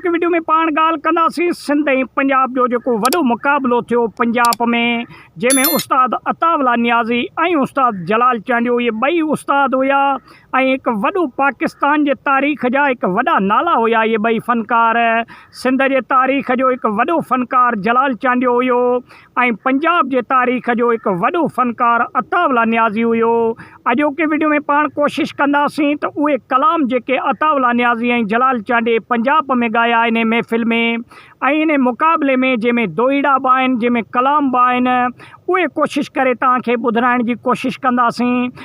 هن وڊيو ۾ پاڻ ڳالهه ڪنداسين سنڌ ۽ پنجاب جو جيڪو وڏو مقابلو ٿيو پنجاب ۾ جنهن ۾ استاد عطاء الله نيازي ۽ استاد جلال چانڊيو اهي ٻئي استاد هيا ۽ هڪ وڏو پاڪستان جي تاريخ جا هڪ وڏا نالا هيا اهي ٻئي فنڪار سنڌ جي تاريخ جو هڪ وڏو فنڪار جلال چانڊيو هيو ۽ پنجاب جي تاريخ جو هڪ وڏو فنڪار عطاء الله نيازي هيو. اڄوڪي وڊيو ۾ پاڻ ڪوشش ڪنداسين ته اهي ڪلام جيڪي عطاء الله نيازي ۽ جلال چانڊيي پنجاب ۾ ڳايا انهي محفل ۾ ۽ انهي مقابلي ۾ جنهن ۾ دوهيڙا به آهن جنهن ۾ ڪلام به آهن اهي ڪوشش ڪري توهان کي ٻڌرائڻ جي ڪوشش ڪنداسين.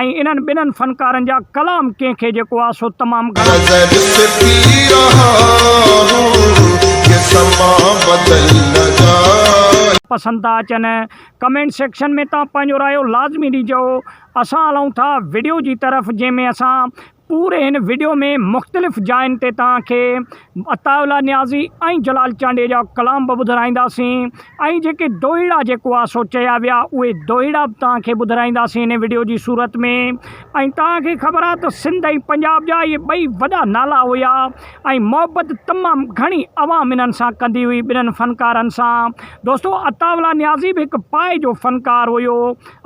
۽ انهن ٻنهن فنڪارن جا ڪلام ڪنهن کي جيڪو آ سو تمام گهڻا نظر سي پي رها هون يي سما بدل نه جائي. پسند ٿا اچن ڪمينٽ سيڪشن ۾ تان پنهنجو رايو لازمي ڏيجو اسان هلون ٿا وڊيو جي طرف جنهن ۾ اسان. پوري هن وڊيو ۾ مختلف جاين تي توهان کي عطاء الله نيازي ۽ جلال چانڊيي جا ڪلام به ٻڌرائينداسين ۽ جيڪي دوهيڙا جيڪو آ سو چيا ويا اهي دوهيڙا به توهان کي ٻڌرائينداسين هن وڊيو جي صورت ۾ ۽ توهان کي خبر آ ته سنڌ ۽ پنجاب جا اهي ٻئي وڏا نالا هيا ۽ محبت تمام گهڻي عوام انهن سان ڪندي هئي ٻنهن فنڪارن سان دوستو عطاء الله نيازي به هڪ پائي جو فنڪار هيو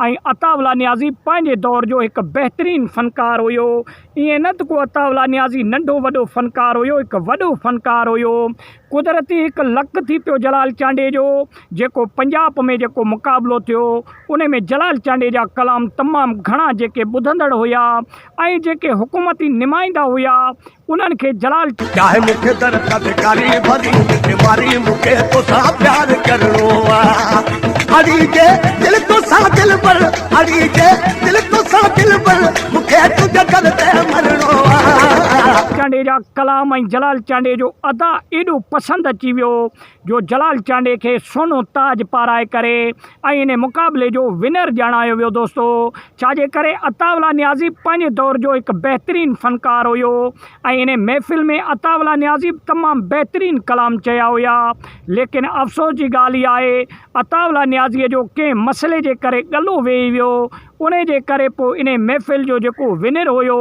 ۽ عطاء الله نيازي پنهنجي دور جو هڪ بهترين فنڪار هيو. ائين نه ته ڪو عطاء الله نيازي ننڍو وڏو فنڪار هيو، هڪ وڏو فنڪار هيو. قدرتي هڪ لڪ ٿي پيو جلال چانڊيي جو، جيڪو پنجاب ۾ جيڪو مقابلو ٿيو، ان ۾ جلال چانڊيي جا ڪلام تمام گهڻا جيڪي ٻڌندڙ هيا، ۽ جيڪي حڪومتي نمائندا هيا انهن کي جلال چاهي مون کي در تذڪاري ڀري مٺي ماري مون کي توسان پيار ڪرڻو آ اڙي جي دل توسان دلبر اڙي جي دل توسان دلبر مون کي تنهنجي در تي مرڻو آ. جلال چانڊيو جا ڪلام ۽ جلال چانڊيو جو ادا ايڏو پسند اچي ويو جو جلال چانڊيي کي سونو تاج پارائي ڪري ۽ ان مقابلي جو ونر ڄاڻايو ويو دوستو ڇاجي ڪري عطاء الله نيازي پنهنجي دور جو هڪ بهترين فنڪار هيو ۽ ان محفل ۾ عطاء الله نيازي به تمام بهترين ڪلام چيا هيا ليڪن افسوس جي ڳالهه هي آهي عطاء الله نيازي جو ڪنهن مسئلي جي ڪري ڳلو ويهي ويو انهي جي ڪري پوء انهي محفل جو جيڪو ونر هيو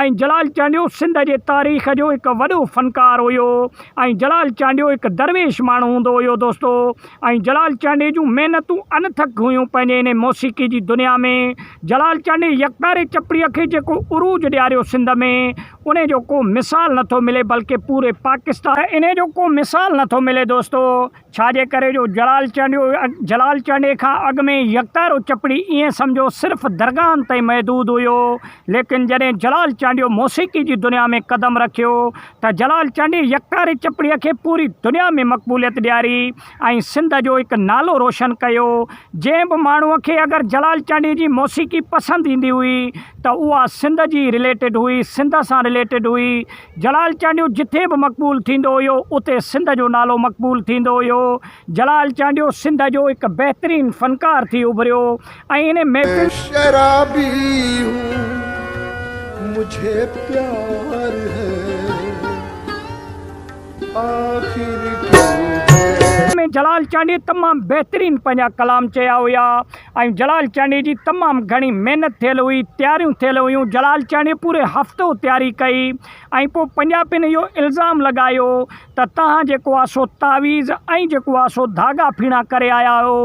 ۽ جلال چانڊيو سنڌ جي تاريخ جو هڪ وڏو فنڪار هيو ۽ جلال چانڊيو هڪ درويش ماڻهو هوندو هيو دوستو ۽ جلال چانڊيي جون محنتون انٿڪ هيون پنهنجي انهي موسيقي جي دنيا ۾ جلال چانڊيي يڪتاري چپڙي کي جيڪو عروج ڏياريو سنڌ ۾ انهي جو ڪو مثال نٿو ملي بلڪه پوري پاڪستان انهي جو ڪو مثال نٿو ملي دوستو ڇا جي ڪري جو جلال چانڊيو جلال چانڊيي کان اڳ ۾ يڪتارو چپڙي ائين سمجهو صرف درگاهن تائين محدود هيو ليڪن جڏهن جلال چانڊيو موسيقي جي دنيا ۾ قدم رکيو ته جلال چانڊيي يڪتاري چپڙي کي پوري دنيا ۾ مقبوليت ڏياري ۽ سنڌ جو هڪ نالو روشن ڪيو جنهن به ماڻهو کي اگر جلال چانڊيي جي موسيقي پسند ايندي هئي ته اها سنڌ جي رليٽيڊ هئي سنڌ سان رليٽيڊ هئي جلال چانڊيو جتي به مقبول ٿيندو هيو اتي سنڌ جو نالو مقبول ٿيندو هيو جلال چانڊيو سنڌ جو هڪ بهترين فنڪار ٿي اڀريو ۽ ان محفل شرابي هون مجهي پيار هي آخر ڪيو هي. ۾ جلال چانڊيي تمام بهترين پنهنجا ڪلام چيا هيا. ۽ جلال چانڊيي جي تمام گهڻي محنت ٿيل هئي تياريون ٿيل هيون جلال چانڊيي پوري هفتو تياري ڪئي ۽ پوء پنجابين اهو الزام لڳايو ته توهان جيڪو آ سو تعويذ ۽ جيڪو آ سو ڌاڳا ڦيڻا ڪري آيا آهيو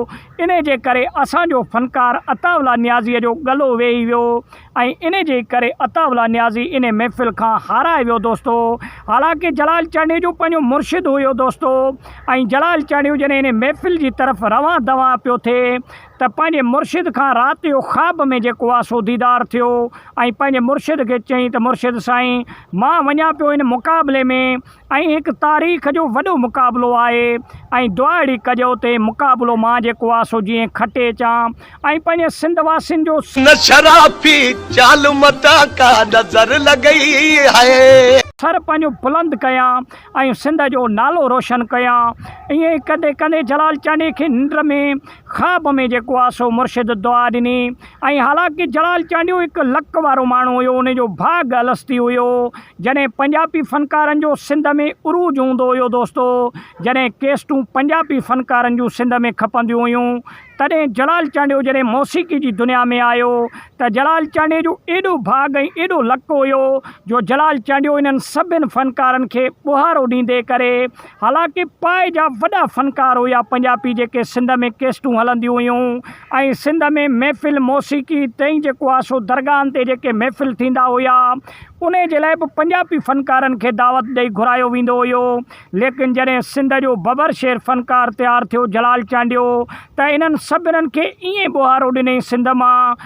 انهي جي ڪري اسان جو فنڪار عطاء الله نيازيء جو ڳلو ويهي ويو ۽ ان جي ڪري عطاء الله نيازي انهي محفل کان هارائي ويو دوستو حالانڪه جلال چانڊيجو پنهنجو مرشد هيو دوستو ۽ جلال چانڊيجو جڏهن انهي محفل جي طرف روان دوان پيو ٿئي ته پنهنجي مرشد کان رات جو خواب ۾ جيڪو آسو ديدار ٿيو ۽ پنهنجي مرشد کي چئين ته مرشد سائين مان وڃان پيو ان مقابلي ۾ ۽ هڪ تاريخ جو وڏو مقابلو آهي ۽ دواڙي ڪڄو تي مقابلو مان جيڪو آ سو جيئن کٽي اچان ۽ پنهنجي سنڌ واسين جو نه شرافي چال متان ڪا نظر لڳئي هي. سر پنهنجو بلند ڪيان ۽ سنڌ جو نالو روشن ڪيان. ائين ڪندي ڪندي جلال چانڊيي کي ننڊ ۾. خواب ۾ جيڪو آ سو مرشد دعا ڏني ۽ حالانڪه جلال چانڊيو هڪ لڪ وارو ماڻهو هيو ان جو ڀاڳ الستي هيو جڏهن پنجاپي فنڪارن جو سنڌ ۾ عروج هوندو هيو دوستو جڏهن ڪيسٽون پنجاپي فنڪارن جون سنڌ ۾ کپنديون هيون تڏهن جلال چانڊيو جڏهن موسيقي جي دنيا ۾ آيو ته جلال چانڊيي جو ايڏو ڀاڳ ۽ ايڏو لڪ هيو جو جلال چانڊيو انهن سڀن فنڪارن کي ٻوهارو ڏيندي ڪري حالانڪ پاء جا وڏا فنڪار هيا پنجاپي جيڪي سنڌ ۾ ڪيسٽون هلنديون هيون ۽ سنڌ ۾ محفل موسيقي تئين جيڪو آ سو درگاهن تي جيڪي محفل ٿيندا هيا انهي جي لاء به پنجاپي فنڪارن کي دعوت ڏئي گهرايو ويندو هيو ليڪن جڏهن سنڌ جو ببر شير فنڪار تيار ٿيو جلال چانڊيو ته انهن سڀنن کي ائين ٻوهارو ڏني سنڌ مان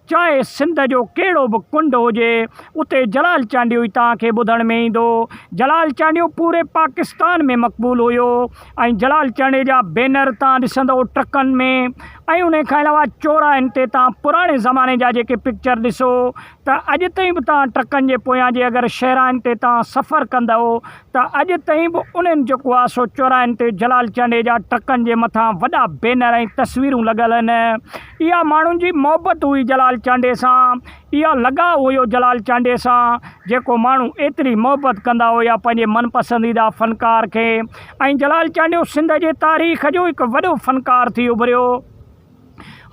چاهي سنڌ جو ڪهڙو به ڪنڊ هجي، اتي جلال چانڊيو ئي توهان کي ٻڌڻ ۾ ايندو. جلال چانڊيو پوري پاڪستان ۾ مقبول هيو ۽ جلال چانڊيو جا بينر توهان ڏسندئو ٽرڪن ۾ ۽ انهي کان علاوه چوراهن تي توهان پراڻي زماني جا جيڪي پڪچر ڏسو ته اڄ تائين به توهان ٽرڪن جي پويان جي اگر شهراين تي توهان سفر ڪندئو ته اڄ تائين به انهن جيڪو آهي سو چوراهن تي جلال چانڊيي جا ٽرڪن جي مٿان وڏا بينر ۽ تصويرون لڳل آهن اها ماڻهن جي محبت هئي جلال چانڊيي سان اها لڳاء هيو جلال چانڊيي سان جيڪو ماڻهو ايتري محبت ڪندا هيا پنهنجي من پسنديده فنڪار کي ۽ جلال چانڊيو سنڌ جي تاريخ جو هڪ وڏو فنڪار ٿي اڀريو.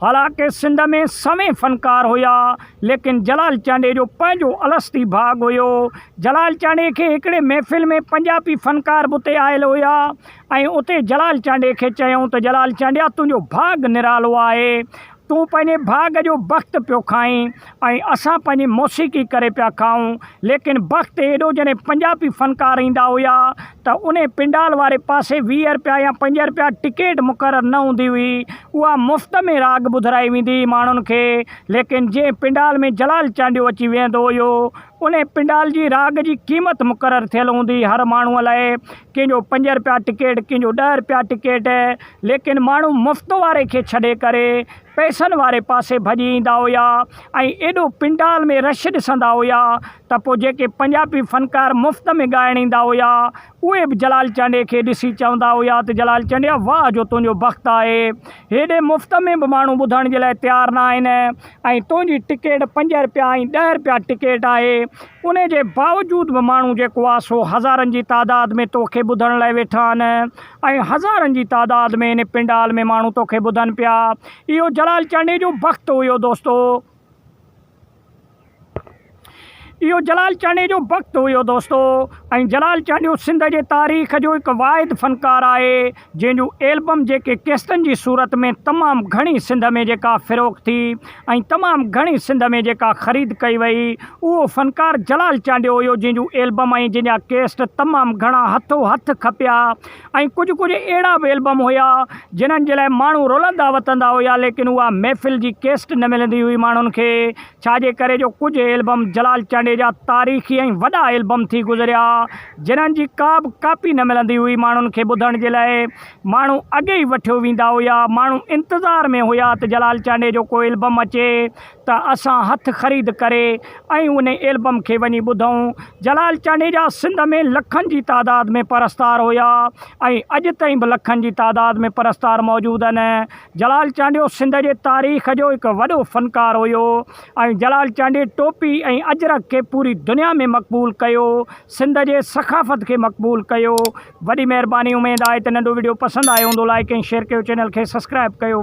حالانڪه سنڌ ۾ سوين فنڪار هيا، ليڪن جلال چانڊيي جو پنهنجو الستي ڀاڳ هيو. جلال چانڊيي کي هڪڙي محفل ۾ پنجابي فنڪار به اتي آيل هيا ۽ اتي جلال چانڊيي کي چيائون ته جلال چانڊيا تنهنجو ڀاڳ نرالو آهي، تون پنهنجي ڀاڳ جو بخت پيو کائين. ۽ اسان پنهنجي موسيقي ڪري پيا کائون ليڪن بخت اهڙو جڏهن پنجابي فنڪار ايندا هيا ته انهي پنڊال واري پاسي ويهه رپيا يا پنج رپيا ٽڪيٽ مقرر نه هوندي هئي اها مفت ۾ راڳ ٻڌرائي ويندي هئي ماڻهن کي ليڪن جنهن پنڊال ۾ جلال چانڊيو اچي ويهندو هيو انهي پنڊال جي راڳ جي قيمت مقرر ٿيل هوندي هئي هر ماڻهو لاء ڪنهن جو پنج رپيا ٽڪيٽ ڪنهن جو ڏهه رپيا ٽڪيٽ ليڪن ماڻهو مفت واري کي ڇڏي ڪري پئسن واري پاسي ڀڄي ايندا هيا ۽ ايڏو پنڊال ۾ رش ڏسندا هيا ته پوء جيڪي پنجابي فنڪار مفت ۾ ڳائڻ ايندا هيا اهي به جلال چانڊيي کي ڏسي چوندا هيا ته جلال چانڊيا واهه جو تنهنجو بخت آهي هيڏي مفت ۾ به ماڻهو ٻڌڻ جي لاء تيار نه آهن ۽ تنهنجي ٽڪيٽ پنج رپيا ۽ ڏهه رپيا ٽڪيٽ آهي ان جي باوجود به ماڻهو جيڪو آهي سو هزارن جي تعداد ۾ توکي ٻڌڻ لاء ويٺا آهن. ۽ هزارن جي تعداد ۾ ان پنڊال ۾ ماڻهو توکي ٻڌن پيا. اهو جلال چانڊئي جو بخت هيو دوستو. اهو جلال چانڊئي جو بخت هيو دوستو. ۽ جلال چانڊيو سنڌ جي تاريخ جو هڪ واحد فنڪار آهي جنهن جون ايلبم جيڪي ڪيسٽن جي صورت ۾ تمام گهڻي سنڌ ۾ جيڪا فروخت ٿي. ۽ تمام گهڻي سنڌ ۾ جيڪا خريد ڪئي وئي اهو فنڪار جلال چانڊيو هيو جنهن جون ايلبم ۽ جنهن جا ڪيسٽ تمام گهڻا هٿو هٿ کپيا ۽ ڪجهه ڪجهه اهڙا به ايلبم هيا جنهن جي لاء ماڻهو رلندا وتندا هيا ليڪن اها محفل جي ڪيسٽ نه ملندي هئي ماڻهن کي ڇا جي ڪري جو ڪجهه ايلبم جلال چانڊيي جا تاريخي ۽ وڏا ايلبم ٿي گذريا جنهن جي ڪا به ڪاپي نه ملندي هئي ماڻهن کي ٻڌڻ جي لاء ماڻهو اڳي ئي وٺيو ويندا هيا. ماڻهو انتظار ۾ هيا ته جلال چانڊيي جو ڪو البم اچي ته اسان هٿ خريد ڪري ۽ انهي البم کي وڃي ٻڌون. جلال چانڊيي جا سنڌ ۾ لکن جي تعداد ۾ پرستار هيا ۽ اڄ تائين به لکن جي تعداد ۾ پرستار موجود آهن. جلال چانڊيو سنڌ جي تاريخ جو هڪ وڏو فنڪار هيو ۽ جلال چانڊيي ٽوپي ۽ اجرڪ کي پوري دنيا ۾ مقبول ڪيو. سنڌ جي ثقافت کي مقبول ڪيو. وڏي مهرباني اميد آهي ته ننڍو وڊيو پسند آيو هوندو لائيڪ ۽ شيئر ڪيو چينل کي سسڪرائب ڪيو.